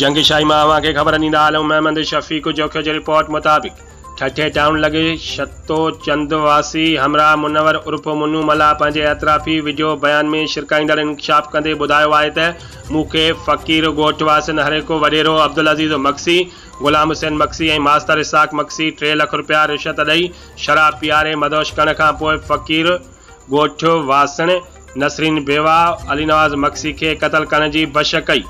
جنگ شاهي مان اوهان کي خبر ڏيندا هلون محمد شفيق جوکيو جي رپورٽ مطابق ٺٽي ٽائون لڳي شتو چند واسي همراهه منور عرف منو ملاح پنهنجي اعترافي وڊيو بيان ۾ شرڪائيندڙ انڪشاف ڪندي ٻڌايو آهي ته مون کي فقير ڳوٺ واسين هرهڪو وڏيرو عبدالعزيز مگسي غلام حسين مگسي ۽ ماستر اسحاق مگسي ٽي لک رپيا رشوت ڏئي شراب پياري مدهوش ڪرڻ کان پوء فقير ڳوٺ واسڻ نسرين بيواهه علي نواز مگسي کي قتل ڪرڻ جي بش ڪئي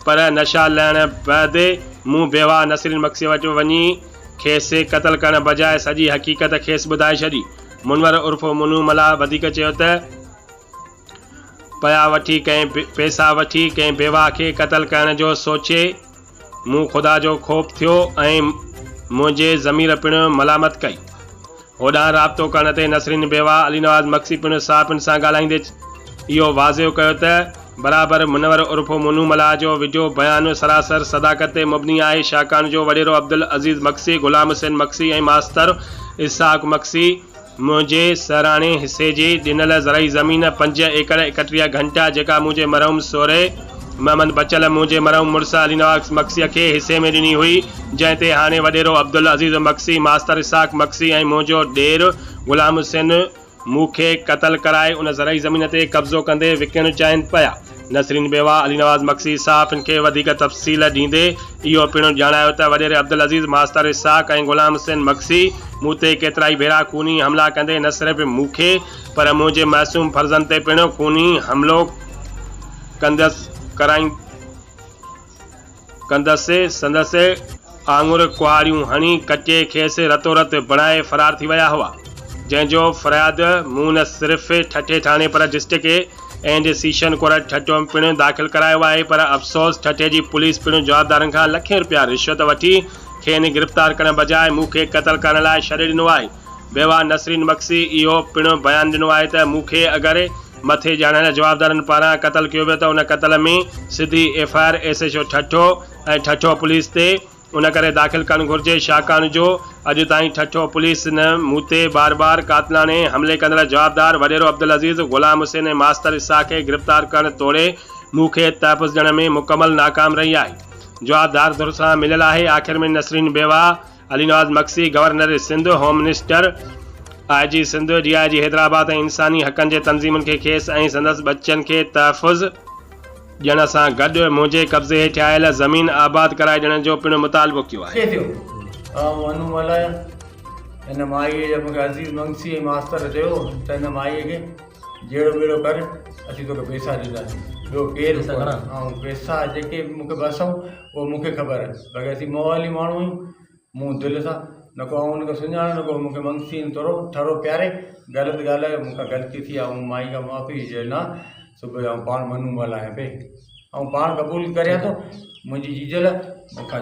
پر نشا لهڻ بعد مون بيواهه نسرين مگسي وٽ وڃي کيس قتل ڪرڻ بجاء سڄي حقيقت کيس ٻڌائي ڇڏي. منور عرف منو ملاح وڌيڪ چيو ته پيا وٺي ڪنهن پيسا وٺي ڪنهن بيواهه کي قتل ڪرڻ جو سوچي، مون خدا جو خوف ٿيو ۽ منهنجي ضمير پڻ ملامت ڪئي. هوڏانهن رابطو ڪرڻ تي نسرين بيوا علي نواز مگسي پڻ صحافين سان ڳالهائيندي اهو واضح ڪيو ته برابر منور عرف مونو ملاح جو وڊيو بيان سراسر صداقت تي مبني آهي شاهڪاڻ جو وڏيرو عبدالعزيز مگسي، غلام حسين مگسي ۽ ماستر اسحاق مگسي منهنجي سهراڻي حصي جي ڏنل زرعي زمين پنج ايڪڙ ايڪٽيهه گهنٽا جيڪا منهنجي مرحوم سورهيه محمد بچل منهنجي مرحوم مڙس علي نواز مگسيء کي حصي ۾ ڏني هئي جنهن تي هاڻي وڏيرو عبدالعزيز مگسي ماستر اسحاق مگسي ۽ منهنجو ڏير غلام حسين مون کي قتل ڪرائي ان زرعي زمين تي قبضو ڪندي وڪڻڻ چاهين پيا. نسرين بيوه علي نواز مگسي صحافين کي وڌيڪ تفصيل ڏيندي اهو پڻ ڄاڻايو ته وڏيري عبدالعزيز ماستر اسحاق ۽ غلام حسين مگسي مون تي ڪيترائي ڀيرا خوني حملا ڪندي نه صرف مون کي پر منهنجي معصوم فرزند تي پڻ خوني حملو ڪندس ڪرائين ڪندس، سندس آڱر ڪهاڙيون هڻي ڪٽي کيس رتورت بڻائي فرار ٿي ويا هئا، جنهن جو فرياد مون نه صرف ٺٽي ٿاڻي پر district and session court Thatta ۾ پڻ داخل ڪرايو آهي پر افسوس ٺٽي جي پوليس پڻ جوابدارن کان لکين رپيا رشوت وٺي کين گرفتار ڪرڻ بجاء مون کي قتل ڪرڻ لاء ڇڏي ڏنو آهي. بيواه نسرين مگسي اهو پڻ بيان ڏنو آهي ته مون کي اگر مٿي ڄاڻايل جوابدارن پاران قتل ڪيو ويو ته ان قتل ۾ سڌي F I R S H O Thatta ۽ Thatta police تي ان ڪري داخل ڪرڻ گهرجي ڇاڪاڻ جو اڄ تائين ٺٽو پوليس نه مون تي بار بار قاتلاڻي حملي ڪندڙ جوابدار وڏيرو عبدالعزيز، غلام حسين ۽ ماستر اسحاق کي گرفتار ڪرڻ توڙي مون کي تحفظ ڏيڻ ۾ مڪمل ناڪام رهي آهي جوابدار ڌر سان مليل آهي آخر ۾ نسرين بيواهه Ali Nawaz Magsi, governor Sindh, home minister, I G Sindh, D I G Hyderabad ۽ انساني حقن جي تنظيمن کي کيس ۽ سندس ٻچن کي تحفظ ڏيڻ سان گڏ منهنجي قبضي هيٺ آيل زمين آباد ڪرائي ڏيڻ جو پڻ مطالبو ڪيو آهي. ڪيئن ٿيو؟ آء مون هنوم هلايا. هن مائيء جي مون کي عزيز مگسي ۽ ماستر چيو ته هن مائيء کي جهيڙو ٻيڙو ڪر، اسين توکي پئسا ڏينداسين. ٻيو ڪير به ڪونه. آئون پئسا جيڪي به مون کي ٻه سئو اهو مون کي خبر آهي، باقي اسين موالي ماڻهو آهيون، مون دل سان، نه ڪو آئون ان کي سڃاڻان نه ڪو مون کي منگسي ان تورو ٺرو پياري، غلط ڳالهه آهي، مون کان غلطي ٿي آهي، آئون مائي کان معافي به چيو نه، صبح جو آئون پاڻ منون ملهايان پئي، آئون پاڻ قبول ڪريان ٿو، منهنجي جيجل مون کان.